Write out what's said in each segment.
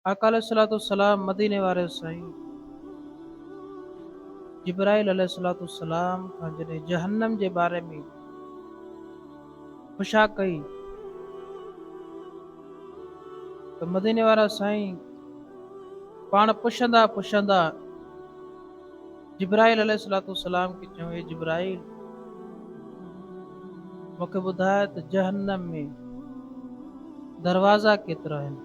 آقا عليه الصلوة والسلام مديني واري سائين جبرائيل عليه الصلوة والسلام کان جڏهن جهنم جي باري ۾ پڇا ڪئي ته مديني وارا سائين پاڻ پڇندا پڇندا جبرائيل عليه الصلوة والسلام کي چيو، اي جبرائيل! مون کي ٻڌاء ته جهنم ۾ دروازا ڪيترا آهن؟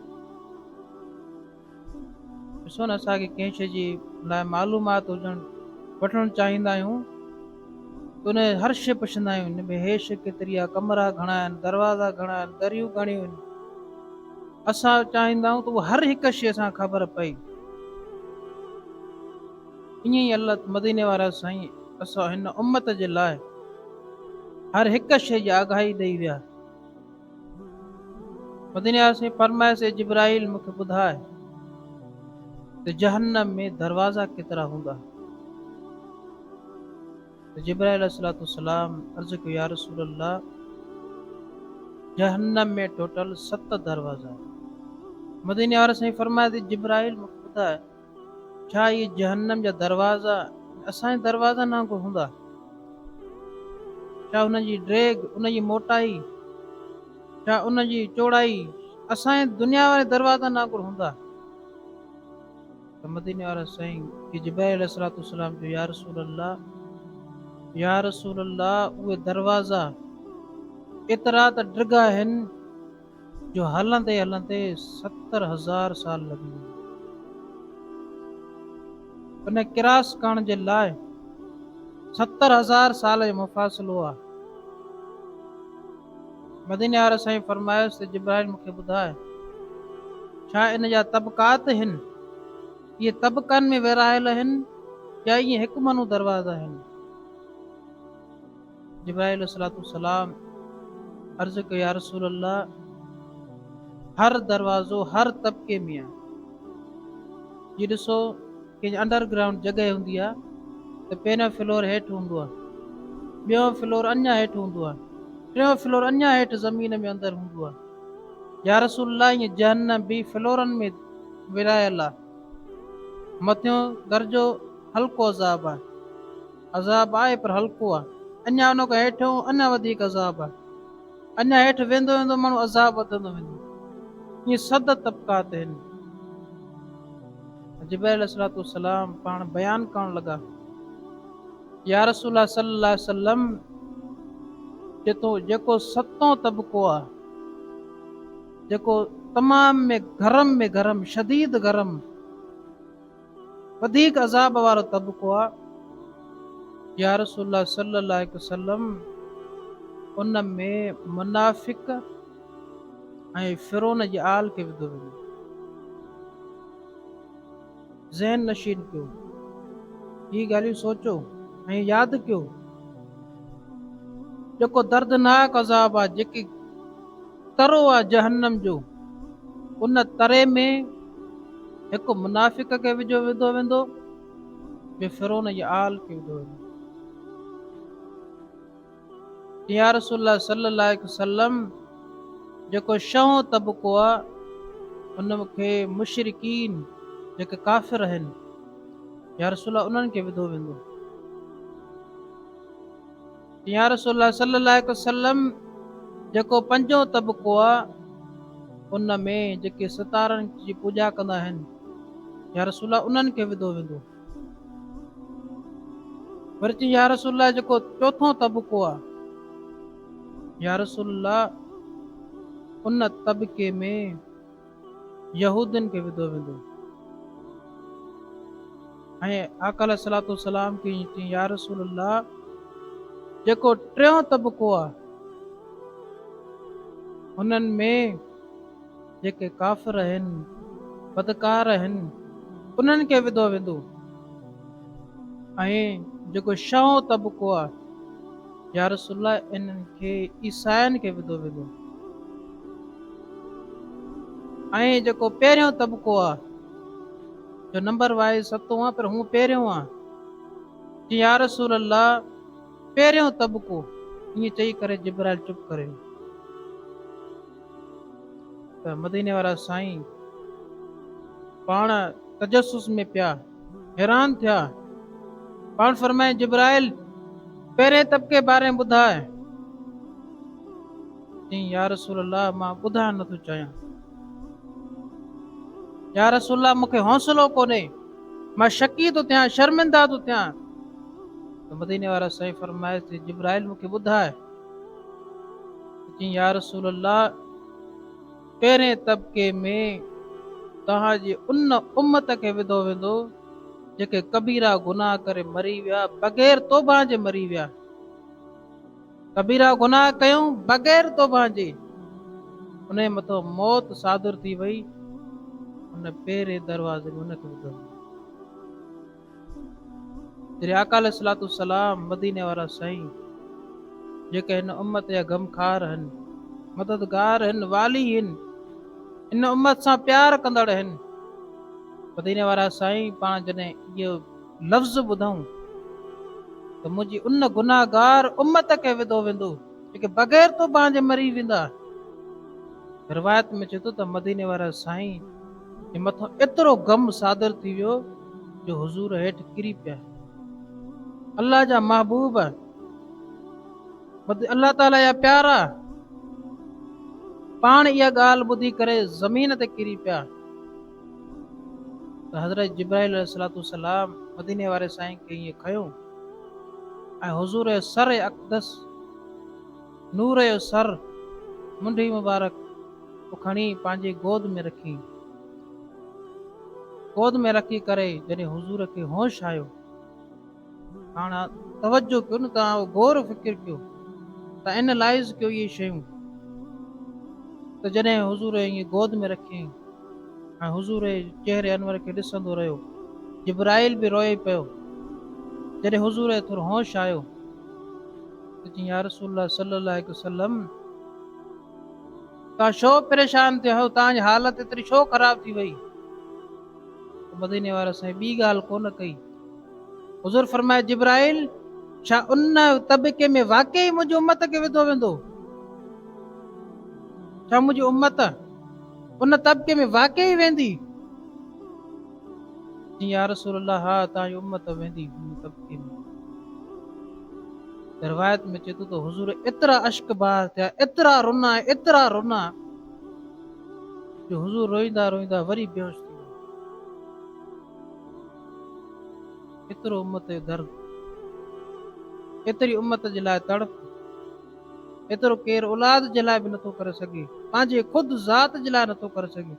ڏسو نه اسان کي ڪنهن شيء جي لاء معلومات هجڻ وٺڻ چاهيندا آهيون ته ان هر شيء پڇندا آهيون ان ۾ هيء شيء ڪيتري آهي ڪمرا گهڻا آهن دروازا گهڻا آهن دريون گهڻيون آهن اسان چاهيندا آهيون ته هر هڪ شيء سان خبر پئي ائين ئي الله مديني وارا سائين اسان هن امت جي لاء هر هڪ شيء جي آگاهي ڏئي ويا. مديني وارا سائين فرمايس اي جبرائيل مون کي ٻڌاء ته جهنم ۾ دروازا ڪيترا هوندا؟ ته جبرائيل عليه الصلوة والسلام عرض ڪيو يا رسول الله جهنم ۾ ٽوٽل ست دروازا. مديني وارا سائين فرمايس اي جبرائيل مون کي ٻڌاء ڇا اهي جهنم جا دروازا اسان جي دروازن وانگر هوندا؟ ڇا ان جي ڊيگهه، ان جي موٽائي، ڇا ان جي چوڙائي اسان جي دنيا واري دروازن وانگر هوندا؟ ته مديني وارا سائين کي جبرائيل عليه الصلوة والسلام چيو، يا رسول الله، يا رسول الله، اهي دروازا ايترا ته ڊگها آهن، جو هلندي هلندي ستر هزار سال لڳي ويا. ان ڪراس ڪرڻ جي لاء ستر هزار سال جو مفاصلو آهي. مديني واري سائين فرمايس ته جبرائيل مون کي ٻڌاء ڇا ان جا طبقات هن؟ اهي طبقن ۾ ورهايل هن يا ائين هڪ منو دروازا هن؟ جبرائيل عليه الصلوة والسلام عرض ڪيو يا رسول الله هر دروازو هر طبقي ۾ آهي جي ڏسو ڪنهن انڊر گرائونڊ جڳهه هوندي آهي ته پهريون فلور هيٺ هوندو آهي ٻيو فلور اڃا هيٺ هوندو آهي ٽيون فلور اڃا هيٺ زمين ۾ اندر هوندو آهي يا رسول الله ائين جهنم به فلورن ۾ ورهايل آهي مٿيون درجو هلڪو عذاب آهي عذاب آهي پر هلڪو آهي. اڃا ان کان هيٺ ۽ اڃا وڌيڪ عذاب آهي. اڃا هيٺ ويندو ويندو ماڻهو عذاب وڌندو ويندو. ائين سڌ طبقات آهن. جبرائيل عليه الصلوة والسلام پاڻ بيان ڪرڻ لڳا يا رسول الله صلي الله عليه وسلم جتو جيڪو ستون طبقو آ جيڪو تمام ۾ گرم ۾ گرم شديد گرم وڌيڪ عذاب وارو طبقو آ. يا رسول الله صلي الله عليه وسلم ان ۾ منافق ۽ فرعون جي آل کي وڌو ويندو. ذهن نشين ڪيو. هي ڳالهيون سوچو ۽ ياد ڪيو. جيڪو دردناڪ عذاب آ جيڪي ترو آ جهنم جو، ان تري ۾ هڪ منافق کي وجهيو وڌو ويندو، ٻي فرعون جي آل کي وڌو ويندو. يا رسول الله صلي الله عليه وسلم جيڪو شهون طبقو آ ان کي مشرڪين جيڪي ڪافر آهن يا رسول الله انهن کي وڌو ويندو. يا رسول الله صلي الله عليه وسلم جيڪو پنجون طبقو آ ان ۾ جيڪي ستارن جي پوڄا ڪندا آهن يا رسول الله انهن کي وڌو ويندو وري چي يا رسول الله جيڪو چوٿون طبقو آ يا رسول الله ان طبقي ۾ يهودين کي وڌو ويندو ۽ آقا عليه الصلوۃ والسلام کي چيائين يا رسول الله جيڪو ٽيون طبقو آ انهن ۾ جيڪي ڪافر آهن بدڪار آهن انهن کي وڌو ويندو ۽ جيڪو شهون طبقو آ يا رسول الله انهن کي عيسائين کي وڌو ويندو ۽ جيڪو پهريون طبقو آ جو نمبر وائز ستون آ پر هون پهريون آ جي يا رسول الله پهريون طبقو ائين چئي ڪري جبرائيل چپ ڪري ويو ته مديني وارا سائين پاڻ تجسس ۾ پيا حيران ٿيا. پاڻ فرمائي جبرائيل پهرين طبقي باري ٻڌاء. چيائين يا رسول الله مان ٻڌائڻ نه ٿو چاهيان. يا رسول الله مون کي حوصلو ڪونهي مان شڪي ٿو ٿيان شرمندا ٿو ٿيان ته مديني وارا سائين فرمائي ٿي جبرائيل مون کي ٻڌائي يا رسول الله پهرين طبقي ۾ توهان جي ان امت کي وڌو ويندو جيڪي ڪبيرا گناهه ڪري مري ويا بغير توبهان جي مري ويا ڪبيرا گناهه ڪيون بغير توبهان جي انهي مٿان موت صادر ٿي وئي ان پهرين دروازي ۾ ان کي وڌو ويندو. جڏهن آقا عليه الصلوة والسلام مديني وارا سائين جيڪي هن امت جا غمخار هن، مددگار هن، والي هن، ان امت سان پيار ڪندڙ هن، مديني وارا سائين پاڻ جڏهن اهو لفظ ٻڌائون ته منهنجي ان گناهگار امت کي وڌو ويندو جيڪي بغير توبان جي مري ويندا. روايت ۾ اچي ٿو ته مديني وارا سائين جي مٿان ايترو غم صادر ٿي ويو جو حضور هيٺ ڪري پيا. الله جا محبوب، الله تعاليٰ جا پيارا پاڻ اها ڳالهه ٻڌي ڪري زمين تي ڪري پيا ته حضرت جبرائيل عليه الصلوة والسلام مديني واري سائين کي ائين کنيو ۽ حضور سر اقدس نور جو سر، منڍي مبارڪ، ڪو کڻي پنهنجي گود ۾ رکي. گود ۾ رکي ڪري جڏهن حضور کي هوش آيو. هاڻ توجه ڪيو نه ته آئون غور فڪر ڪيو ته Analyze ڪيو اهي شيون ته جڏهن حضور ائين گود ۾ رکي ۽ حضور جي چهري انور کي ڏسندو رهيو. جبرائيل به روئي پيو. جڏهن حضور کي ٿورو هوش آيو. پڇين، يا رسول الله صلي الله عليه وسلم! توهان ڇو پريشان ٿيا آهيو، توهان جي حالت ايتري ڇو خراب ٿي وئي؟ ته مديني واري سائين ٻي ڳالهه ڪونه ڪئي. حضور فرمايو، جبرائيل! ڇا ان طبقي ۾ واقعي منهنجي امت کي وڌو ويندو؟ ڇا منهنجي امت ان طبقي ۾ واقعي ويندي؟ يا رسول الله ها اتان جي امت ويندي هن طبقي ۾ روايت ۾ چي ٿو ته حضور ايترا اشڪ بار ٿيا ايترا رنا ايترا رنا جو حضور روئيندا روئيندا وري بيهوش ٿي ويا ايترو امت جو درد ايتري امت جي لاء تڙپ ايترو ڪير اولاد جي لاء به نٿو ڪري سگهي پنهنجي خود ذات جي لاء نٿو ڪري سگهي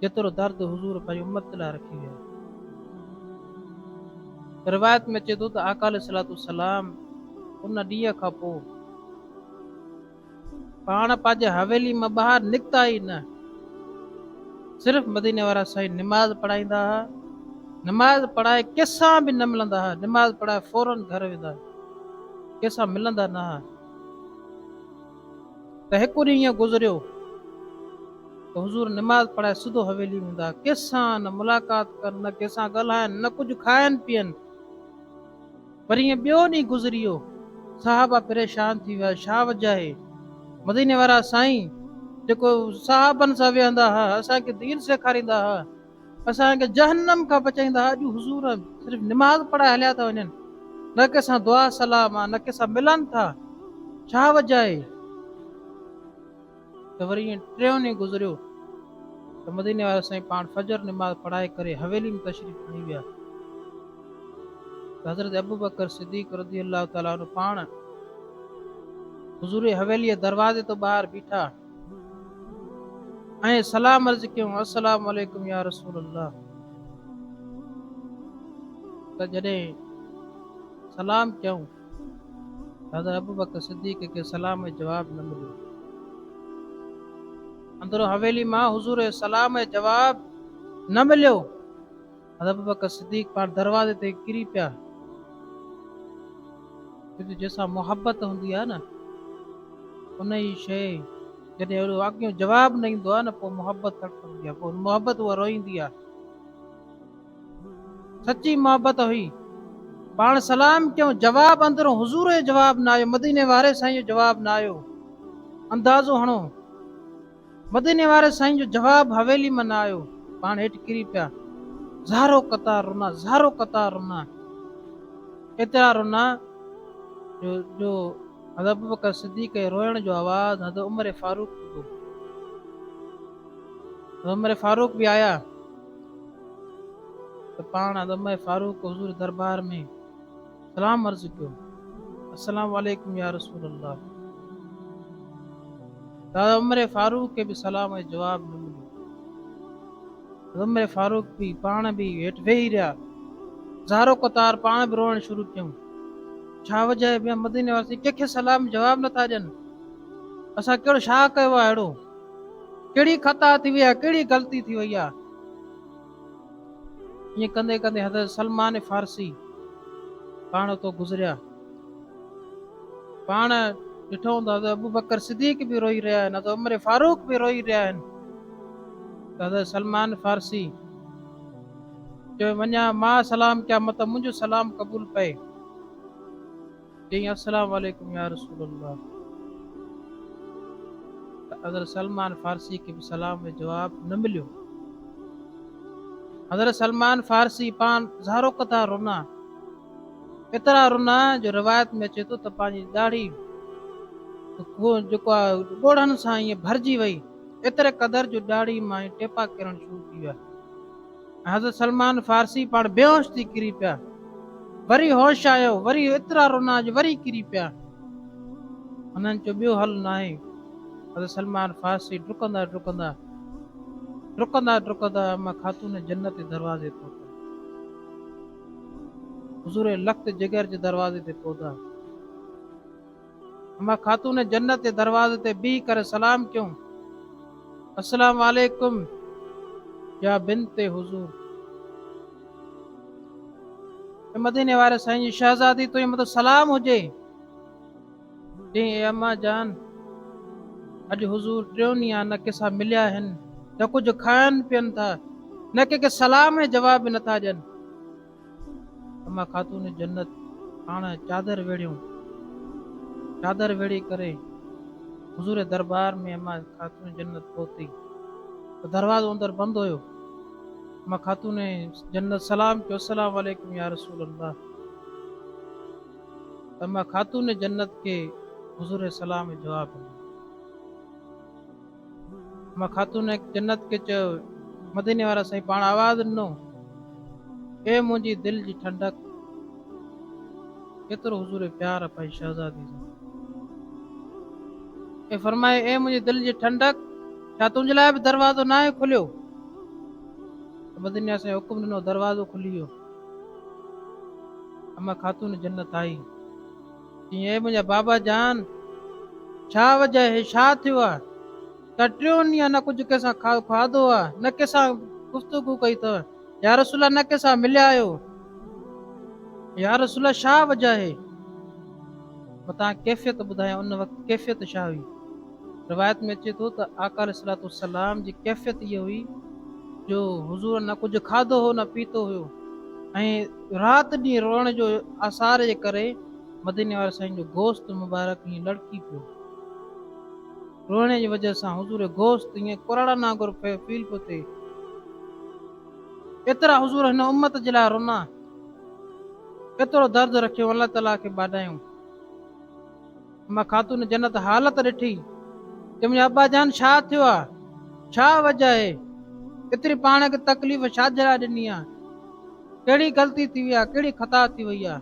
جيترو درد حضور پنهنجي امت لاء رکي ويا. روايت ۾ اچي ٿو ته آقا عليه الصلوة والسلام ان ڏينهن کان پوء پاڻ پنهنجي حويلي مان ٻاهر نڪتا ئي نه، صرف مديني وارا سائين نماز پڙهائيندا ها، نماز پڙهائي ڪنهن سان به نه ملندا ها، نماز پڙهائي فورن گهر ويندا، ڪنهن سان ملندا نه ها. ته هڪ ڏينهن ائين گذريو ته حضور نماز پڙهائي سڌو حويلي ۾ هوندا، ڪنهن سان نه ملاقات ڪن، نه ڪنهن سان ڳالهائن، نه ڪجهه کائن پيئن. وري ائين ٻيو ڏينهن گذري ويو، صحابه پريشان ٿي ويا، ڇا وجه آهي؟ مديني وارا سائين جيڪو صحابن سان ويهندا ها، اسان کي دين سيکاريندا ها، اسان کي جهنم کان بچائيندا اڄ حضور صرف نماز پڙهائي هليا ٿا وڃن نه ڪنهن سان دعا سلام آ نه ڪنهن سان ملن ٿا ڇا وجه آهي ته وري ائين ٽيون ڏينهن گذريو ته مديني وارا سائين پاڻ فجر نماز پڙهائي ڪري حويلي ۾ تشريف کڻي ويا حضرت ابوبڪر صديق رضي الله تعالٰي عنه پاڻ حضور حويلي دروازي تو ٻاهر بيٺا ۽ سلام عرض ڪيون، السلام عليڪم يا رسول الله! ته جڏهن سلام ڪيائون ته حضرت ابوبڪر صديق کي سلام ۽ جواب نه مليو. اندرون حويلي مان حضور کي سلام ۽ جواب نه مليو. حضرت ابوبڪر صديق پاڻ دروازي تي ڪري پيا، ڇو جو جنهن سان محبت هوندي آهي نه انهي شيء جڏهن اهڙو اڳيون جواب نه ايندو آهي نه پوء محبت تڙپندي آهي، پوء محبت اها روئيندي آهي. سچي محبت هئي. پاڻ سلام ڪيون، جواب اندرون حضور جو جواب نه آيو، مديني واري سائين جو جواب نه آيو. اندازو هڻو! مديني واري سائين جو جواب حويلي مان نه آيو پاڻ هيٺ ڪري پيا زارو قطار رنا زارو قطار رنا ايترا رنا جو جو حضرت ابوبڪر صديق جي روئڻ جو آواز حضرت عمر فاروق ٻڌو حضرت عمر فاروق به آيا ته پاڻ حضرت عمر فاروق حضور دربار ۾ سلام عرض ڪيو. السلام عليڪم يا رسول الله. دادا عمر فاروق کي به سلام ۽ جواب نه مليو. دادا عمر فاروق به پاڻ به هيٺ ويهي رهيا. زارو قطار پاڻ به روئڻ شروع ڪيون. ڇا وجهه آهي بيان مديني واسي ڪنهن کي سلام جواب نه ٿا ڏين. اسان ڪهڙو شاهه ڪيو آهي اهڙو. ڪهڙي خطا ٿي وئي آهي ڪهڙي غلطي ٿي وئي آهي. ائين ڪندي ڪندي حضرت سلمان فارسي پاڻ اتو گذريا پاڻ ڏٺو ته حضرت ابو بکر صديق به روئي رهيا آهن حضرت عمر فاروق به روئي رهيا آهن حضرت سلمان فارسي چيو وڃا مان سلام ڪيا مت منهنجو سلام قبول پئي چيائين السلام عليڪم يا رسول الله ته حضرت سلمان فارسي کي به سلام جو جواب نه مليو. حضرت سلمان فارسي پان ظاهرو قطار رنا، ايترا رنا جو روايت ۾ اچي ٿو ته پنهنجي ڏاڙهي جيڪا ڳوڙهن سان ائين ڀرجي وئي، ايتري قدر جو ڏاڙهي مان ٽيپا ڪرڻ شروع ٿي ويا. حضرت سلمان فارسي پاڻ بيهوش ٿي ڪري پيا، وري هوش آيو، وري ايترا رونا جو وري ڪري پيا. هنن چيو ٻيو حل ناهي. حضرت سلمان فارسي ڊڪندا ڊڪندا ڊڪندا ڊڪندا اما خاتون جنت جي دروازي پهتا. حضور لخت جگر جي دروازي تي پهتا. اما خاتون جنت جي دروازي تي بيهي ڪري سلام ڪيون، السلام عليڪم يا بنت حضور. اي مديني واري سائين جي شهزادي تنهنجي مٿان سلام هجي. چيائين، اي اما جان! اڄ حضور ٽيون ڏينهن نه ڪنهن سان مليا آهن، نه ڪجهه کائن پين ٿا، نه ڪنهن کي سلام ۽ جواب به نٿا ڏين. اما خاتون جنت پاڻ چادر ويڙهيون، چادر ويڙهي ڪري حضور دربار ۾ اما خاتون جنت پهتي ته دروازو اندر بند هيو، اما خاتون جنت سلام ڪيو السلام عليڪم يا رسول الله ته اما خاتون جنت کي حضور سلام جواب ڏنو. مان خاتون جنت کي چيو، مديني وارا سائين پاڻ آواز ڏنو، اي منهنجي دل جي ٺنڊڪ! ڪيترو حضور پيار پنهنجي شهزادي سان اي فرمائي، اي منهنجي دل جي ٺنڊڪ! ڇا تنهنجي لاء به دروازو ناهي کليو؟ ته مديني وارا سائين حڪم ڏنو، دروازو کلي ويو. اما خاتون جنت آئي. چيائين، اي منهنجا بابا جان! ڇا وجهه آهي؟ ڇا ٿيو آهي؟ ته ٽيون ڏينهن نه ڪجهه ڪنهن سان کاڌو آهي، نه ڪنهن سان گفتگو ڪئي اٿئي، يا رسول الله نه ڪنهن سان مليا آهيو. يا رسول الله ڇا وجهه آهي؟ متان ڪيفيت ٻڌايائين، ان وقت ڪيفيت ڇا هئي؟ روايت ۾ اچي ٿو ته آقا عليه الصلوة والسلام جي ڪيفيت اها هئي جو حضور نه ڪجهه کاڌو هو نه پيتو هيو ۽ رات ڏينهن روئڻ جو آثار جي ڪري مديني واري سائين جو گوشت مبارڪ ائين لڙڪي پيو. روئڻي جي وجه سان حضور جو گوشت ائين ڪراڙن وانگر فيل پيو ٿئي. ايترا حضور هن امت جي لاء رونا. ايترو درد رکيو الله تعالي کي ٻاڏايون. اما خاتون جنت حالت ڏٺي، چيم يا ابا جان ڇا ٿيو آ؟ ڇا وجه آهي؟ ايتري پاڻ کي تڪليف ڇاجي لاء ڏني آ؟ ڪهڙي غلطي ٿي وئي آ؟ ڪهڙي خطا ٿي وئي آ؟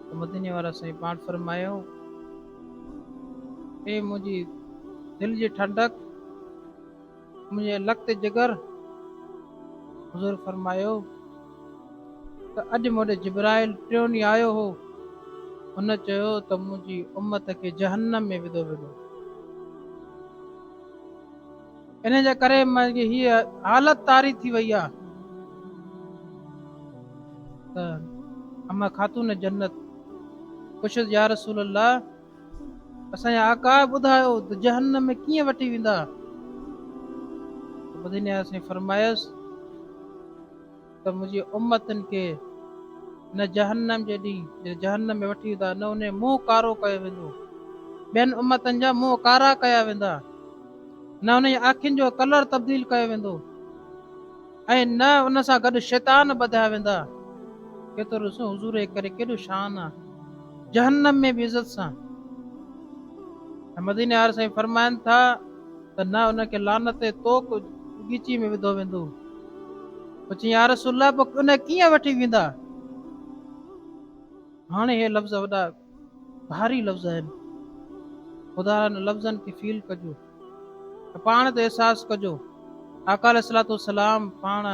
ته مديني وارا سائين پاڻ فرمايو، اي منهنجي دل جي ٺنڊڪ! منهنجي لکت جگر حضور فرمايو ته اڄ مون ڏي جبرائيل ٽيون ڏينهن آيو هو هن چيو ته منهنجي امت کي جهنم ۾ وڌو ويندو ان جي ڪري منهنجي هي حالت طاري ٿي وئي آ ته اما خاتون جنت پڇيس يا رسول الله اسان جا آقا ٻڌايو ته جهنم ۾ ڪيئن وٺي ويندا؟ مديني آيا سائين فرمايس ته منهنجي امتن کي نه جهنم جي ڏينهن جڏهن جهنم ۾ وٺي ويندا نه انهي منهن ڪارو ڪيو ويندو ٻين امتن جا منهن ڪارا ڪيا ويندا نه انهن جي اکين جو ڪلر تبديل ڪيو ويندو ۽ نه ان سان گڏ شيطان ٻڌايا ويندا. ڪيترو ڏسو حضور جي ڪري ڪيڏو شان آ جهنم ۾ به عزت سان ۽ مديني وارا سائين فرمائن ٿا ته نه ان کي لعنت ۽ توڪ بغيچي ۾ وڌو ويندو پوء چيائين يا رسول الله پوء ان کي ڪيئن وٺي ويندا هاڻي هي لفظ وڏا ڀاري لفظ آهن خدا ان لفظن کي فيل ڪجو ته پاڻ تي احساس ڪجو آقا عليه الصلوۃ والسلام پاڻ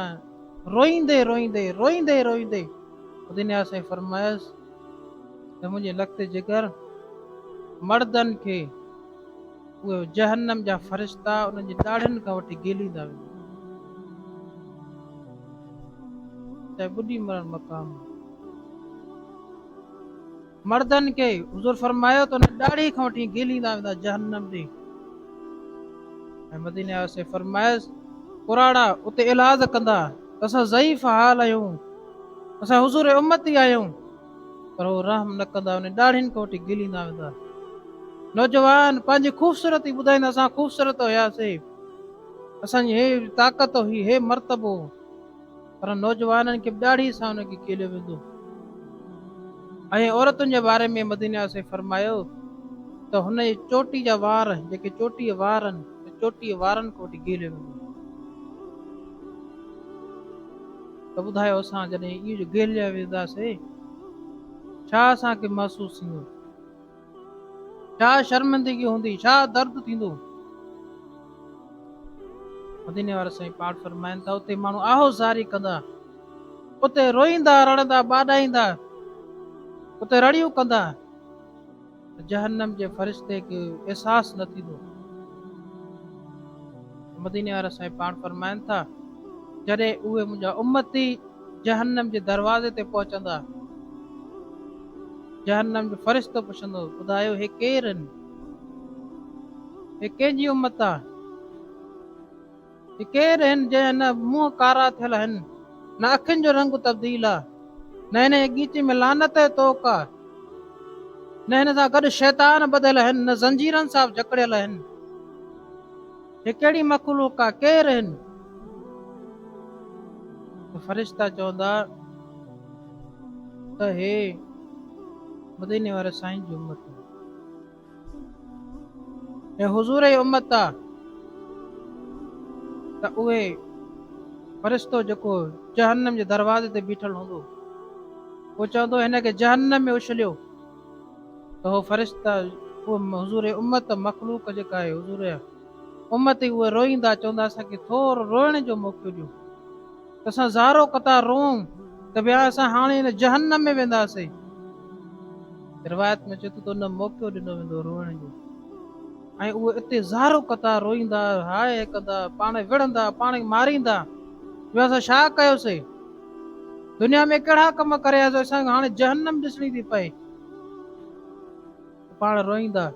روئيندي روئيندي روئيندي روئيندي دنيا سائين فرمايس ته منهنجي لکت جگر مردن کي اهي جهنم جا فرشتا انهن جي ڏاڙهن کان وٺي گيليندا ويندا ته ٻڏي مرڻ مقام مردن کي حضور فرمايو ته انهن ڏاڙهي کان وٺي گهليندا ويندا جهنم ڏي ۽ مديني آسي فرمايس پراڻا اتي علاج ڪندا اسان ضعيف حال آهيون اسان حضور امتي آهيون پر هو رحم نه ڪندا ان ڏاڙهين کان وٺي گليندا ويندا نوجوان پنهنجي خوبصورتي ٻڌائيندا اسان خوبصورت هياسي اسان جي هي طاقت هي هي مرتبو پر نوجوانن کي به ڏاڙهي سان ان کي کيليو ويندو. ۽ عورتن جي باري ۾ مدني عليه السلام فرمايو ته هن جي چوٽي جا وار جيڪي چوٽيء وارن ته چوٽيء وارن کان وٺي کيليو ويندو. ته ٻڌايو اسان جڏهن اهو جو کيليا وينداسين ڇا اسان کي محسوس ٿيندو؟ ڇا شرمندگي هوندي، ڇا درد ٿيندو. مديني وارا سائين پاڻ فرمائن ٿا اتي ماڻهو آهو زاري ڪندا اتي روئيندا رڙندا ٻاڏائيندا اتي رڙيون ڪندا جهنم جي فرشتي کي احساس نه ٿيندو مديني وارا سائين پاڻ فرمائن ٿا جڏهن اهي منهنجا امتي جهنم جي دروازي تي پهچندا، جهنم جو فرشتو پڇندو، ٻڌايو هي ڪير آهن؟ هي ڪنهن جي امت آ؟ هي ڪير آهن جنهن نه منهن ڪارا ٿيل آهن، نه اکين جو رنگ تبديل آ، نه هن جي ڳيچي ۾ لعنت جي توڪ آ، نه هن سان گڏ شيطان ٻڌل آهن، نه زنجيرن سان جڪڙيل آهن. هي ڪهڙي مخلوق آ ڪير هن؟ ته فرشتا چوندا ته هي مديني واري سائين جي امت آ ۽ حضور جي امت آ ته اهي فرشتو جيڪو جهنم جي دروازي تي بيٺل هوندو اهو چوندو هن کي جهنم ۾ اڇليو ته هو فرشته اهو حضور امت مخلوق جيڪا آهي حضور امت اهي روئيندا چوندا اسان کي ٿورو روئڻ جو موقعو ڏيو ته اسان زارو قطار روئون ته ويا اسان هاڻي هن جهنم ۾ وينداسين روايت ۾ چيو ته تو نه موقعو ڏنو ويندو روئڻ جو ۽ اهو اتي زارو قطع روئيندا هاء هڪندا پاڻ وڙهندا پاڻ ماريندا جو اسان شا ڪيوسي دنيا ۾ ڪهڙا ڪم ڪريا جو اسان کي هاڻي جهنم ڏسڻي ٿي پئي. تو پاڻ روئيندا.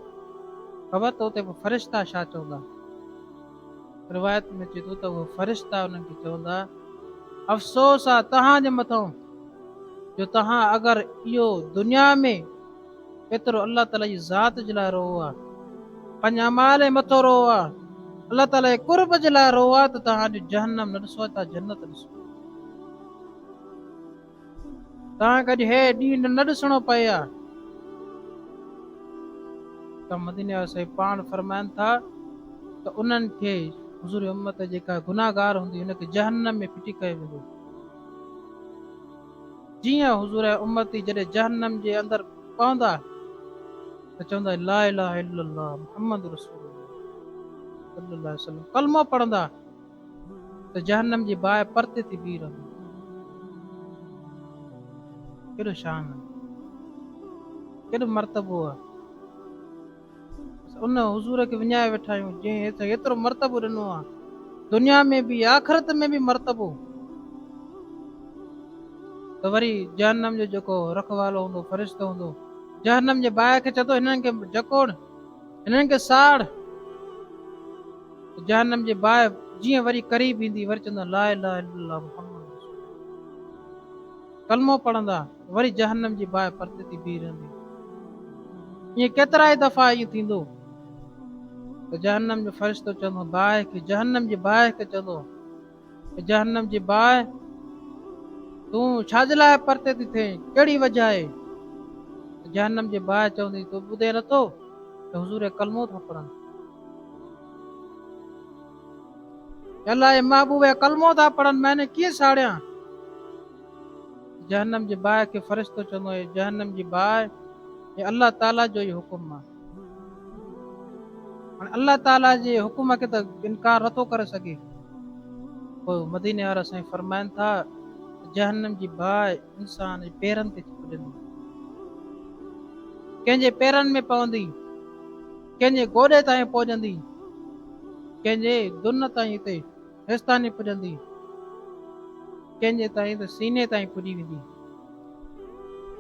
خبر تو تي به فرشتا ڇا چوندا. روايت ۾ اچي ٿو ته اهي فرشتا انهن کي چوندا افسوس آ توهان جي مٿان جو توهان اگر اهو دنيا ۾ ايترو الله تعالي جي ذات جي لاء روئو ها پنهنجي اعمال ۽ مٿو روئو ها الله تعالي جي قرب جي لاء روئو ها ته توهان اڄ جهنم نه ڏسو اڄ توهان جنت ڏسو توهان کي اڄ هي ڏينهن نه ڏسڻو پئي ها ته مديني وارا سائين پاڻ فرمائن ٿا ته انهن کي حضور امت جيڪا گناهگار هوندي ان کي جهنم ۾ ڦٽي ڪيو ويندو جيئن حضور ۽ امتي جڏهن جهنم جي اندر پوندا ته چوندا لا اله الا الله محمد رسول الله صلي الله عليه وسلم ڪلمو پڙهندا ته جهنم جي باهه پرتي ٿي بيهي رهندي. ڪيڏو شان آهي. ڪيڏو مرتبو آهي. ان حضور کي وڃائي ويٺا آهيون جنهن اٿي ايترو مرتبو ڏنو آهي دنيا ۾ به آخرت ۾ به مرتبو ته وري جهنم جو جيڪو رکوالو هوندو فرشتو هوندو جهنم جي باهه کي چتو هنن کي جڪوڙ هنن کي ساڙ جهنم جي باهه جيئن وري قريب ايندي وري چوندا لا اله الا الله محمد ڪلمو پڙهندا وري جهنم جي باهه پرتي ٿي بيهي رهندي. ائين ڪيترائي دفعا ائين ٿيندو ته جهنم جو فرشتو چوندو باهه کي جهنم جي باهه کي چوندو ته جهنم جي باهه تون ڇا جي لاء پرتي ٿي ٿئين ڪهڙي وجهه آهي ته جهنم جي باهه چوندي تو ٻڌين نٿو ته حضور ڪلمو ٿا پڙهن الاهي محبوب ڪلمو ٿا پڙهن معنی ڪيئن ساڙيان جهنم جي باهه کي فرشتو چوندو آهي، جهنم جي باهه هي الله تعالي جو ئي حڪم آهي. هاڻي الله تعالي جي حڪم کي ته انڪار نٿو ڪري سگهي. پوء مديني وارا سائين فرمائن ٿا ته جهنم جي باهه انسان جي پيرن تي چپجندي، ڪنهن جي پيرن ۾ پوندي، ڪنهن جي گوڏي تائين پهجندي، ڪنهن جي دن تائين اتي هيستاني پڄندي، ڪنهن جي تائين ته سيني تائين پڄي ويندي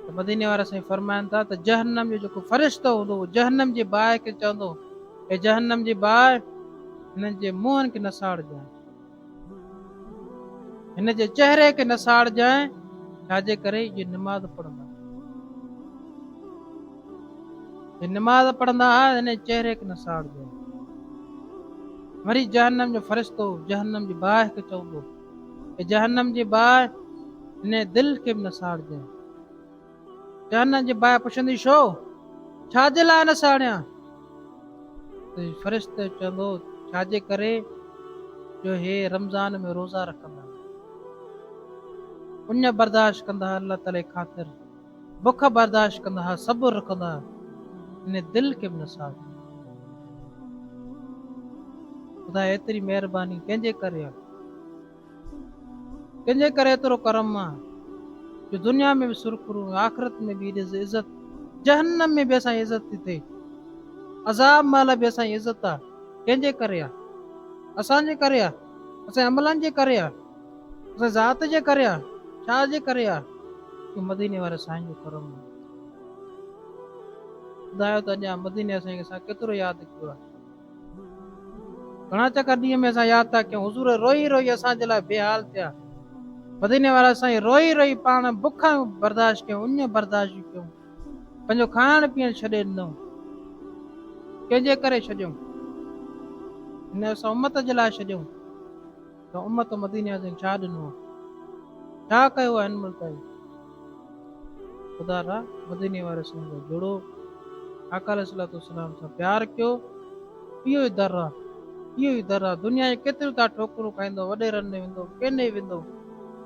ته مديني وارا سائين فرمائن ٿا ته جهنم جو جيڪو فرشتو هوندو اهو جهنم جي باهه کي چوندو اي جهنم جي باهه هنن جي منهن کي نساڙجانء هن جي چهري کي نساڙجانء ڇا جي ڪري اهي نماز پڙهندا نماز پڙهندا هئا هن چهري کي نساڙجانء وري جهنم جو فرشتو جهنم جي باهه کي چوندو، اي جهنم جي باهه! هن دل کي به نه ساڙجانء. جهنم جي باهه پڇندي، ڇو؟ ڇا جي لاء نه ساڙيان؟ ته فرشتو چوندو، ڇا جي ڪري جو هي رمضان ۾ روزا رکندا، اڃ برداشت ڪندا، الله تعاليٰ جي خاطر. بک برداشت ڪندا ها صبر رکندا ها ان دل کي به نه ساڙ. خدا ايتري مهرباني ڪنهن جي ڪري آهي؟ ڪنهن جي ڪري ايترو ڪرم آهي جو دنيا ۾ به سرخرو ۽ آخرت ۾ به ايڏي عزت، جهنم ۾ به اسان جي عزت ٿي ٿئي، عذاب مهل به اسان جي عزت آهي، ڪنهن جي ڪري آهي؟ اسان جي ڪري آهي، اسان جي عملن جي ڪري آهي. اسان ذات جي ڪري آ ڇا جي ڪري آ جو مديني واري سائين جو ڪرم آ ٻڌايو ته اڄان مديني واري سائين کي اسان ڪيترو ياد ڪيو آ گهڻا چڪر ڏينهن ۾ اسان ياد ٿا ڪيون حضور روئي روئي اسان جي لاء بي حال ٿيا مديني وارا سائين روئي روئي پاڻ بک برداشت ڪيون اڃ برداشت ڪيون پنهنجو کائڻ پيئڻ ڇڏي ڏنو ڪنهن جي ڪري ڇڏيون هن اسان امت جي لاء ڇڏيون ته امت مدينيٰ جي ڇا ڏنو آهي؟ ڇا ڪيو آهي هن ملڪ جو؟ خدا را مديني واري سنڌ جا جڙو آقا عليه الصلوة والسلام سان پيار ڪيو اهو ئي در آهي اهو ئي در آهي دنيا جي ڪيتريون تان ٺوڪرون کائيندو وڏيرن ڏي ويندو ڪنهن ڏي ويندو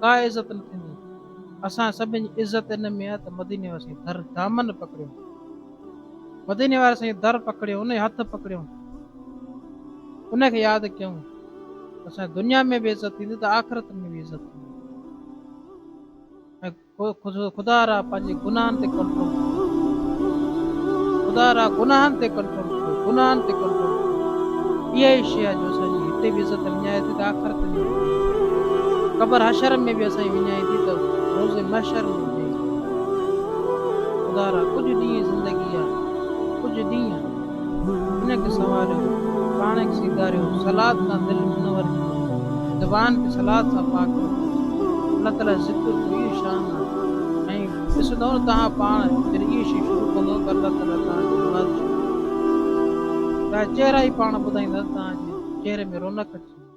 ڪا عزت نه ٿيندي اسان سڀن جي عزت ان ۾ آهي ته مديني واسين در دامن پڪڙيو. مديني واري سائين در پڪڙيو انهي هٿ پڪڙيو انهي کي ياد ڪيون ته سائين دنيا ۾ به عزت ٿيندي ته آخرت ۾ به عزت ٿيندي خدا را پنهنجي گناهن تي ڪنٽرول خدا را گناهن تي ڪنٽرول گناهن تي ڪنٽرول اها ئي شيء جو اسان جي هتي به عزت وڃائي ٿي ته آخرت ۾ قبر حشر ۾ به اسان وڃائي ٿي ته روز محشر ۾ خدا را ڪجهه ڏينهن زندگي آ ڪجهه ڏينهن هن کي سنواريو پاڻ کي سينگاريو صلات سان دل منور ڪيو زبان کي صلات سان پاڪ رکيو الله تعالي ذڪر جو اهي شان آ ۽ ڏسندؤ نه توهان پاڻ جڏهن اهي شيون شروع ڪندؤ ته الله تعالي توهان جي مراد شروع ڪندو توهان جا چهرا ئي پاڻ ٻڌائيندا ته توهان جي چهري ۾ رونق اچي ويندي.